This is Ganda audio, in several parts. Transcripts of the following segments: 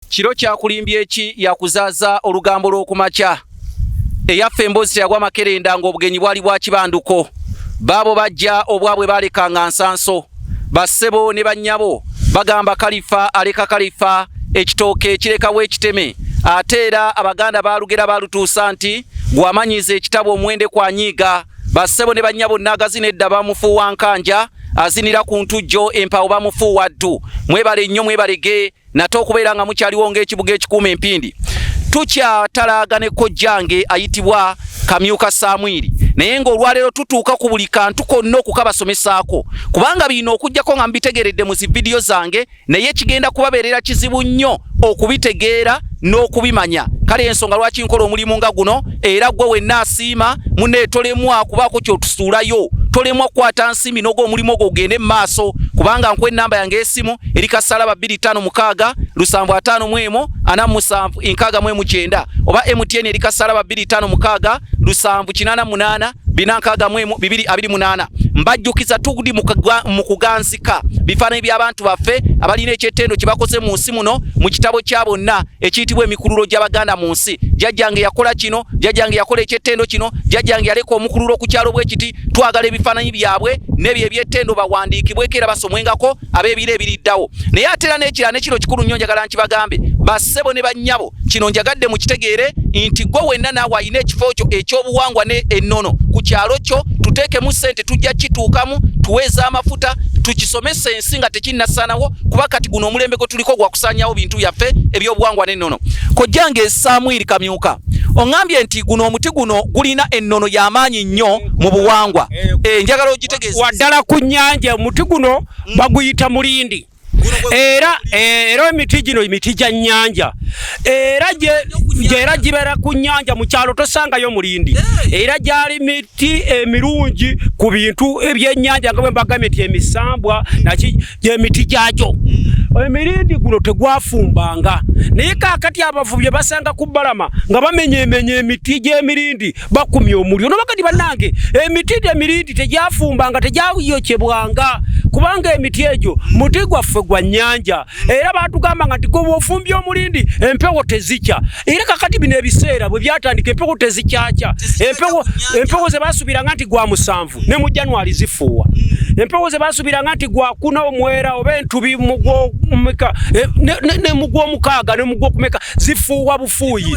Kiro kyakulimbye ki yakuzaaza olugambo lw'okumakya eyaffe emboozi teyagwa makerenda ng'obugenyi bwali bwa kibanduko baabo bajja obwabwe baalekanga nsanso bassebo ne bannyabo bagamba kalifa aleka kalifa ekitooke kirekawo ekiteme ate era abaganda baalugera baalutuusa nti gwamanyiza ekitabo omuwende kwanyiiga bassebo ne bannya bonna agazina edda bamufuuwa nkanja azinira ku ntujjo empawo bamufuuwa ddu mwebale nnyo mwebalege nate okubeera nga mukyaliwo ng'ekibuga ekikuuma empindi tukyatalaaga ne kojjange ayitibwa kamyuka samwiri naye ng'olwaleero tutuuka ku buli kantu konna okukabasomesaako kubanga birina okugyako nga mubitegeredde mu zividiyo zange naye kigenda kubabeerera kizibu nnyo okubitegeera n'okubimanya kale ensonga lwaki nkola omulimu nga guno era gwe wenna asiima mune tolemwa kubaako kyotusuulayo tolemwa kukwata nsimi noga omulimu ogwo ogende mu maaso kubanga nkuwa ennamba yange esimu eri kasalaba 25 lusanvu 5 mu emu ana musanvu enkaaga mu emu kyenda oba mtn eri kasalaba 25 lusanvu kinana munana bina nkaaga mu emu bibiri abiri munana mbajjukiza tugudi mu kuganzi Teka bifaananyi by'abantu baffe abalina eky'ettendo kye bakoze mu nsi muno mu kitabo kya bonna ekiyitibwa emikululo gy'Abaganda mu nsi. Jjajjange yakola kino, jjajjange yakola eky'ettendo kino, jjajjange yaleka omukululo ku kyalo bwe kiti. Twagala ebifaananyi byabwe n'ebyo eby'ettendo bawandiikibweko era basomwengako ab'ebiro ebiriddawo. Naye ate era n'ekirala ne kino kikulu nnyo njagala nkibagambe, bassebo ne bannyabo kino njagadde mukitegeere nti gwe wenna naawe alina ekifo kyo ekyobuwangwa ne ennono ku kyalo kyo tuteekemu ssente tujja kituukamu tuweeza amafuta tukisomesa ensi nga tekinnasanawo kuba kati guno omulembe gwe tuliko gwakusanyawo bintu byaffe ebyobuwangwa n'ennono kojjange samwiri kamyuka oŋambye nti guno omuti guno gulina ennono y'amaanyi nnyo mu buwangwa eh, eh, njagala ogitegeeza waddala ku nnyanja omuti guno baguyita mulindi era eh, era emiti gino emiti gya nnyanja era era gibeera ku nnyanja mu kyalo tosangayo mulindi era gyali miti emirungi ku bintu ebyennyanja nga bwe mbagambye nti emisambwa naki gyemiti gyagyo hmm. emirindi guno tegwafumbanga naye kakati abavubi basanga ku balama nga bamenyemenya emiti gy'emirindi bakumya omuliro nobakati banange emiti emirindi tegyafumbanga tegyayokyebwanga kubanga emiti egyo muti gwaffe gwa nyanja era batugamba nga ntigoba ofumbya omulindi empewo tezikya era kakati bino ebiseera bwe byatandika empewo tezikyakya empewo zebasubiranga nti gwa musanvu ne mu januari zifuuwa mm. empewo zebasubiranga nti gwakuna omwera oba entubi mugwomukaaga e, ne mugwokumeka zifuuwa bufuuyi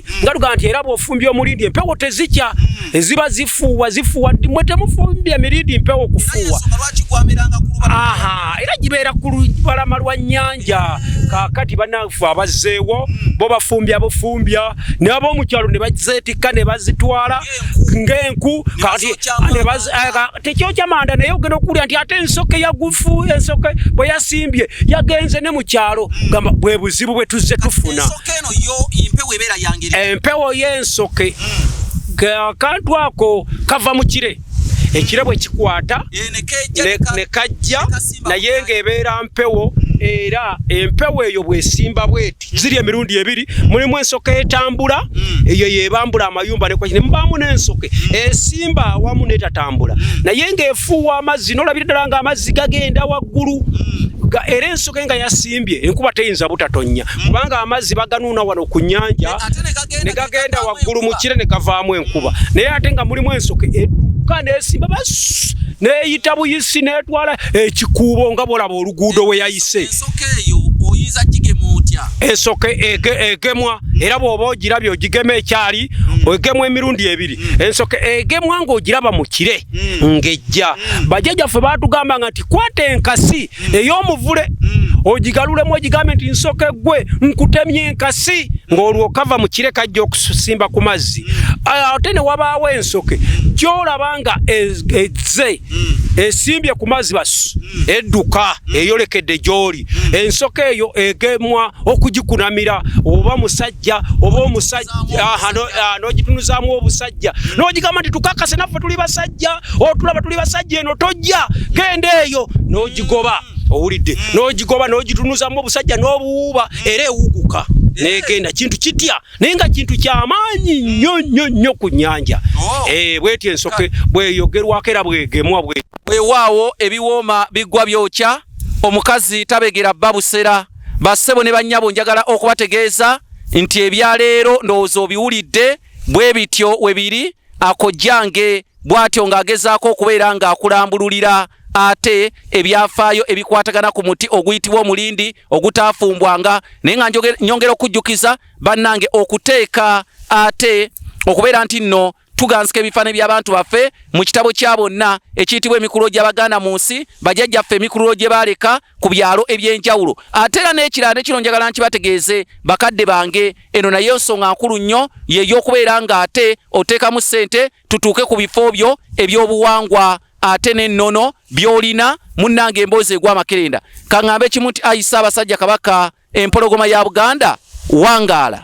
nga tugamba nti era bwofumbya omulindi empewo tezikya eziba zifuuwa zifuuwa mwe temufumbya mirindi mpewo kufuuwa aha era gibeera ku lubalama lwa nnyanja kakati banafu abazzeewo bo bafumbya bufumbya naye ab'omukyalo ne bazeetikka ne bazitwala ng'enku kakati tekyokya manda naye ogenda okuwulira nti ate ensoke yagufu ensoke bwe yasimbye yagenze ne mu kyalo gamba bwe buzibu bwe tuzze tufuna empewo y'ensoke akantu ako kava mu kire ekire bwe kikwata eh, ne kajja naye ng'ebeera mpewo era empewo eyo bwesimba bweti ziri emirundi ebiri mulimu ensoka etambula hmm. eyo yebambula amayumba nemubaamu nensoke hmm. esimba awamu netatambula hmm. naye ngaefuuwa amazzi nolabira ddala nga amazzi gagenda waggulu era ensoka enga yasimbye enkuba teyinza butatonya kubanga amazzi baganuuna wano ku nyanja negagenda waggulu mukire negavaamu enkuba naye ate nga mulimu ensoke yokka nesimba bas neyita buyisi netwala ekikuubo nga bolaba oluguudo weyayise esoka egemwa era bwoba ogirabye ogigema ekyali mm. ogemwa emirundi ebiri mm. ensoka egemwa ngaogiraba mu kire mm. ngejja bajajja ffe batugamba nga nti kwata enkasi ey'omuvule ogigalulemu ogigambe nti nsoka eggwe nkutemye enkasi ng'olwokava mu kire kajja okusimba ku mazzi ah, ate ne wabaawo ensoke gyolaba nga e, ezze esimbye ku mazzi basu edduka eyolekedde gy'oli ensoko eyo egemwa okugikunamira oba musajja oba omusajja n'ogitunuzaamu obusajja n'ogigamba nti tukakase naffe tuli basajja otulaba tuli basajja eno tojja genda eyo n'ogigoba owulidde n'ogigoba n'ogitunuzamu obusajja n'obuwuuba era ewuguka negenda kintu kitya naye nga kintu kyamaanyi nnyo nnyo nnyo ku nyanja oh. eh, bweti ensoke bweyogerwako era bwegemwa bwewaawo ebiwooma bigwa byokya omukazi tabegera bba busera bassebo ne bannyabo njagala okubategeeza nti ebyaleero ndowooza obiwulidde bwe bityo we biri akojjange bw'atyo ng'agezaako okubeera ng'akulambululira ate ebyafaayo ebikwatagana ku muti oguyitibwa omulindi ogutaafumbwanga naye nga nyongera okujjukiza bannange okuteeka ate okubeera nti nno tuganzika ebifaananyi by'abantu baffe mu kitabo kya bonna ekiyitibwa emikululo gy'abaganda mu nsi bajajjaffe emikululo gye baaleka ku byalo eby'enjawulo ate era n'ekirala ne kino njagala nkibategeeze bakadde bange eno naye nsonga nkulu nnyo yey'okubeera ng'ate oteekamu ssente tutuuke ku bifo byo ebyobuwangwa ate n'ennono by'olina munnange emboozi egwa amakerenda kaŋŋambe kimu nti ayi ssaabasajja kabaka empologoma ya buganda wangaala